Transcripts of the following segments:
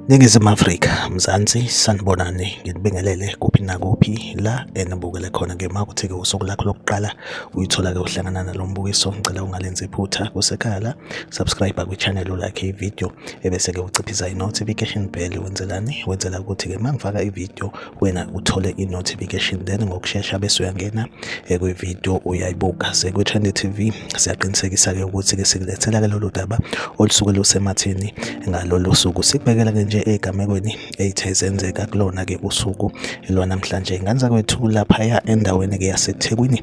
Ningizimu Afrika, Mzansi, sanibonani nginibingelele kuphi nakuphi la enibukele khona ke makuthi-ke usuku lakho lokuqala uyithola-ke uhlangana nalo mbukiso ngicela ungalenzi iphutha kusekhaya la subscribe kwi-channel ulakhe ividiyo ebese-ke uciphiza i-notification bell wenzelani wenzela ukuthi-ke uma ngifaka ividiyo wena uthole i-notification then ngokushesha bese uyangena eh, kwi-video uyayibuka sekwi-trend tv siyaqinisekisa-ke ukuthi-ke sikulethela-ke lolu daba olusuke lusemathini ngalolu suku sikubekela-ke nje ey'gamekweni eyithe zenzeka kulona-ke usuku lwanamhlanje ngane zakwethu laphaya endaweni-ke yasethekwini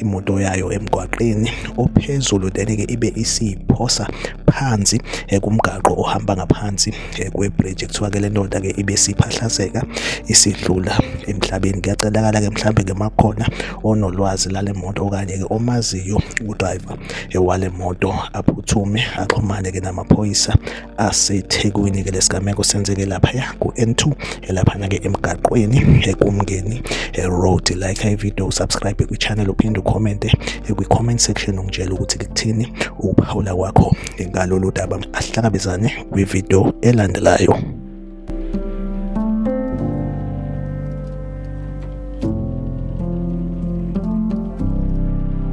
imoto yayo emgwaqeni ophezulu then-ke ibe isiyiphosa phansi eh, kumgaqo ohamba ngaphansi eh, kwebridge kuthiwa-ke le ndoda-ke ibe siphahlazeka isidlula emhlabeni kuyacelakala-ke mhlawumbe-ke makhona onolwazi lale moto okanye-ke omaziyo udrayiva eh, wale moto aphuthume axhumane-ke namaphoyisa asethekwini ke lesigameko senzeke laphaya ku-n2 elaphana ke emgaqweni ekumngeni road like ivideo usubscribe kwichannel uphinde ukhomente kwi-comment section ungitshela ukuthi kuthini ukuphawula kwakho ngalolu daba ahlangabezane kwivideo elandelayo